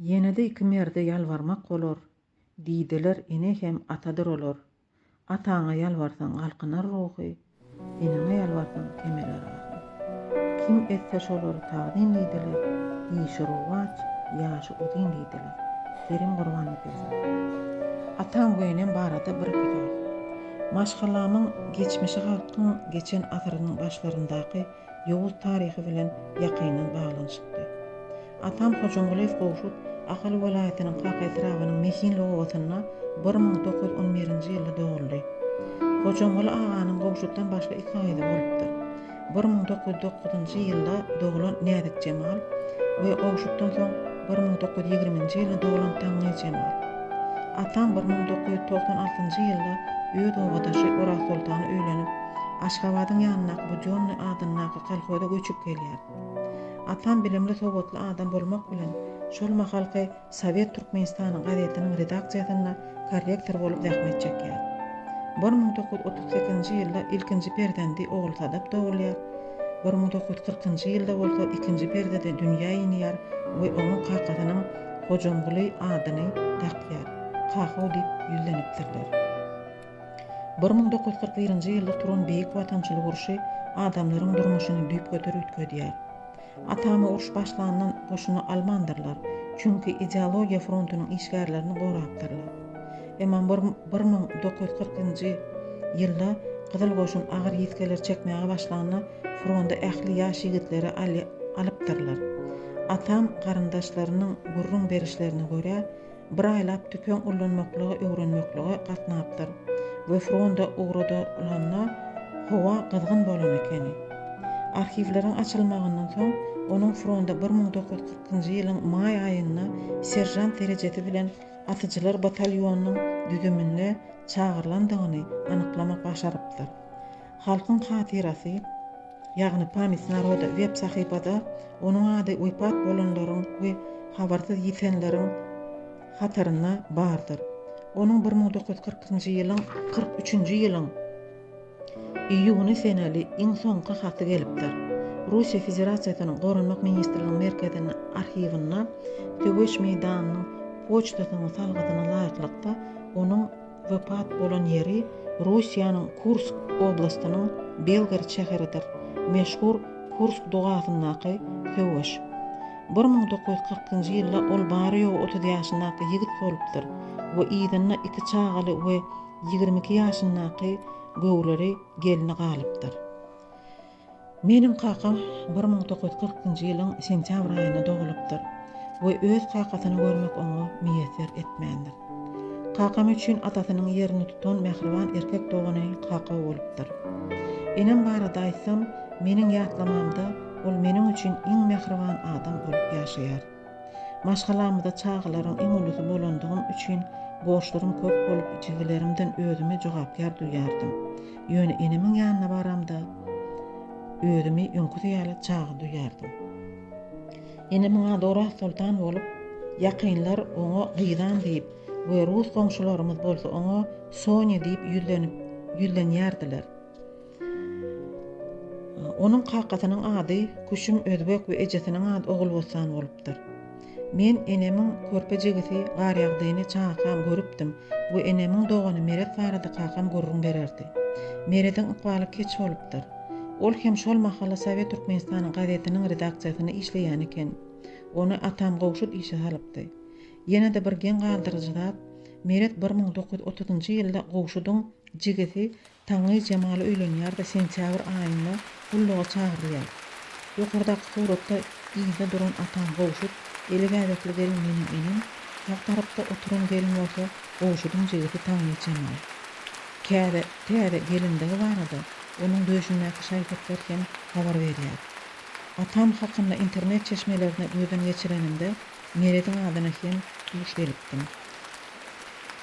Ýene-de iki merde ýalbarmak bolar, Diýdiler, Ene hem atadyr olar. Ataňa ýalbarsaň galkynar ruhy, Eneňe ýalbarsaň kemeler ahy. Kim etse şolary tagzym diýdiler, Işi rowaç, ýaşy uzyn diýdiler. Kerim Gurbannepesov. Ataň we enem barada bir-iki söz. Maşgalamyň geçmişi halkyň geçen asyrynyň başlaryndaky Ýowuz taryhy bilen ýakyndan baglanyşykly. Atam Hojamgulyýew Gowşut Ahal welaýatynyň Kaka etrabynyň Mehinli obasynda bir müň dokuz ýüz on birinji ýylda doguldy. Hojamguly aganyň Gowşutdan başga iki gyzy bolupdyr. Bir müň dokuz ýüz dokuzynjy ýylda doglan Näzikjemal we Gowşutdan soň bir müň dokuz ýüz ýigriminji ýylda doglan Taňňyjemal. Atam bir müň dokuz ýüz togsan altynjy ýylda öz obadaşy Orazsoltana öýlenip, Aşgabadyň ýanyndaky Bujonnyý adyndaky kolhoza göçüp gelýär. Atam bilimli-sowatly adam bolmak bilen, şol mahalky Sowet Türkmenistany gazetiniň redaksiýasynda korrektor bolup zähmet çekýär. Bir müň dokuz ýüz otuz sekizinji ýylda ilkinji perzendi Ogulsadap dogulýar, bir müň dokuz ýüz kyrkynjy ýylda bolsa ikinji perzedi dünýä inýär we oňa kakasynyň Hojamguly adyny dakýar. Kakaw diýip ýüzlenipdirler. Bir müň dokuz ýüz kyrk birinji ýylda turan Beýik Watançylyk urşy adamlaryň durmuşyny düýpgöter üýtgedýär. Atama uruş başlandan goşuna almandyrlar, çünki ideologiýa frontunyň işgärlerini gorapdyrlar. Emma bir müň dokuz ýüz kyrkynjy ýylda Gyzyl goşun agyr ýitgeler çekmäge başlanda fronda ähli ýaş ýigitleri alypdyrlar. Atam garyndaşlarynyň gürrüň berişlerine görä, Bir aýlap tüpeň ullanmaklygy öwrenmeklige gatnapdyr we fronda ugradylanda howa gyzgyn bolan ekeni. Arhiwleriň açylmagyndan soň onuň fronda bir müň dokuz ýüz kyrkynjy ýylyň maý aýynda seržant derejesi bilen atyjylar batalýonynyň düzümine çagyrylandygyny anyklamak başarypdyr. Halkyň hatyrasy, ýagny Pamyt naroda web sahypada onuň ady wepat bolanlaryň we habarsyz ýitenleriň hatarynda bardyr. Onuň bir müň dokuz ýüz kyrkynjy ýylyň kyrk üçünji ýylyň iýuny seneli iň soňky haty gelipdir. Russiýa Federasiýasynyň Goranmak ministrliginiň merkezinde arhiwinde söweş meýdanynyň poçtasynyň salgysyna laýyklykda onuň Wepat bolan ýeri Russiýanyň Kursk oblastynyň Belgorod şäheridir. Meşhur Kursk dogasyndaky söweş. Bir müň dokuz ýüz kyrkynjy ýylda ol bary-ýogy otuz ýaşyndaky ýigit bolupdyr we yzynda iki çagaly we ýigrimi iki ýaşyndaky göwreli gelni galypdyr. Meniň kakam bir müň dokuz ýüz kyrkynjy ýylyň sentýabr aýynda dogulypdyr we öz kakasyny görmek oňa miýesser etmändir. Kakam üçin atasynyň ýerini tutan mähriban erkek dogany kaka bolupdyr. Enem barada aýtsam, meniň ýatlamamda ol meniň üçin iň mähriban adam bolup ýaşaýar. Maşgalamyzda çagalaryň iň ulusy bolandygym üçin borçlarym köp bolup, jigilerimden özümi jogapkär duýýardym. Ýöne enemiň ýanyna baramda, özümi öňküsi ýaly çaga duýýardym. Enemiň ady Orazsoltan bolup, ýakynlar oňa Gyzan diýip we rus goňşularymyz bolsa oňa Sonya diýip ýüzlenip ýüzlenýärdiler. Onuň kakasynyň ady Küşüm Özbek we ejesiniň ady Ogulbossan bolupdyr. Men enemiň körpe jigisi Garýagdyny çagakam görüpdim we enemiň dogany Meret barada kakam gürrüň bererdi. Merediň ykbaly keç bolupdyr. Ol hem şol mahaly Sowet Türkmenistanyň gazetiniň redaksiýasynda işleýän eken. Ony atam gowşut işe salypdy. Ýene-de bir geň galdyryjy zat, Meret bir müň dokuz ýüz otuzynjy ýylda gowşudyň jigisi Taňňy Jemal öýlenýär-de sentýabr aýynda gulluga çagyrylýar. Ýokardaky suratda yzda duran atam Gowşut, eli gädekli gelin meniň enem, sag tarapda oturan gelin bolsa Gowşudyň jigisi Taňňy Jemal. Käde täze gelindigi barada onuň döşündäki şaý-sepler hem habar berýär. Atam hakynda internet çeşmelerine gözden geçirenimde Merediň adyna hem duş gelipdim.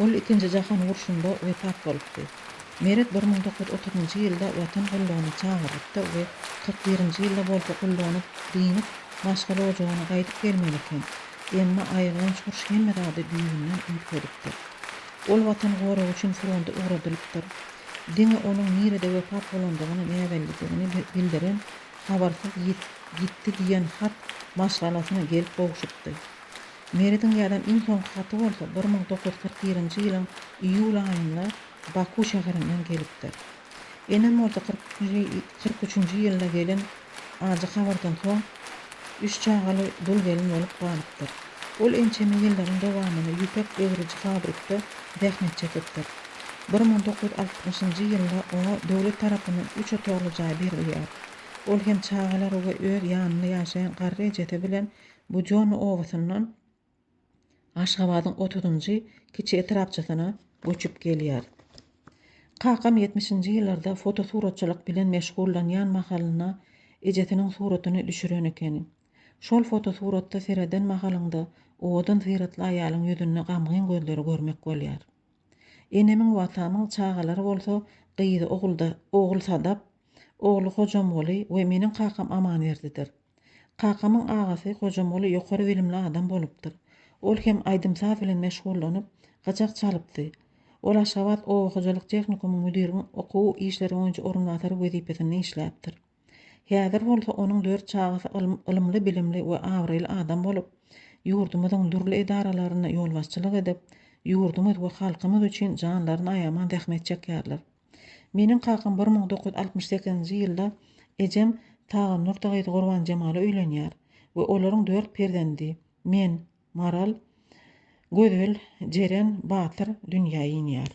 Ol Ikinji jahan urşunda wepat bolupdy. Meret bir müň dokuz ýüz otuz njy ýylda Watan gullugyna çagyrylypdy we kyrk birinji ýylda bolsa gullugyndy dynyp, maşgala ojagyna gaýdyp gelmeli eken. Emma aýylganç urş hemme zady düýbünden üýtgedipdir. Ol Watan goragy üçin fronda ugradylypdyr. Diňe onuň nirede wepat bolandygyny, näbellidigini bildiren habarsyz ýitdi diýen hat maşgalasyna gelip gowşupdy. Merediň ýazan iň soňky haty bolsa bir müň dokuz ýüz kyrk birinji ýylyň iýul aýynda Baku şäherinden gelipdir. Enem bolsa kyrk üçünji ýylda gelen ajy habardan soň üç çagaly dul gelin bolup galypdyr. Ol ençeme ýyllaryň dowamynda ýüpek öwrüji fabrikde zähmet çekipdir. Bir müň dokuz ýüz altmyşynjy ýylda oňa döwlet tarapyndan üç otagly jaý berilýär. Ol hem çagalary we öz ýanynda ýaşaýan garry ejesi bilen Bu Jon obasyndan Aşgabadyň otuzynjy kiçi etrapçasyna göçüp gelýär. Kakam ýetmişinji ýyllarda fotosuratçylyk bilen meşgullanýan mahalynda ejesiniň suratyny düşüren ekeni. Şol fotosuratda sereden mahalyňda owadan syratly aýalyň ýüzünde gamgyn gözleri görmek bolýar. Enemiň we atamyň çagalary bolsa gyzy Ogulda, ogul Sadap, ogly Hojamguly we meniň kakam Amanberdidir. Kakamyň agasy Gojamoly ýokary bilimli adam bolupdyr. Ol hem aýdym-saz bilen meşgullanyp, gyjak çalypdy. Ol Aşgabat oba hojalyk tehnikumyň müdiriň okuw işleri boýunça orunbasary wezipesinde işläpdir. Häzir bolsa onuň dört çagasy ylymly-bilimli we abraýly adam bolup, ýurdumyzyň dürli edaralarynda ýolbaşçylyk edip, ýurdumyz we halkymyz üçin janlaryny aýaman zähmet çekýärler. Meniň kakam bir müň dokuz ýüz altmyş sekizinji ýylda ejem Tagan Nurta gyzy Gurbanjemala öýlenýär we olaryň dört perzendi, men, Maral, Gözel, Jeren, Batyr, dünýä inýär.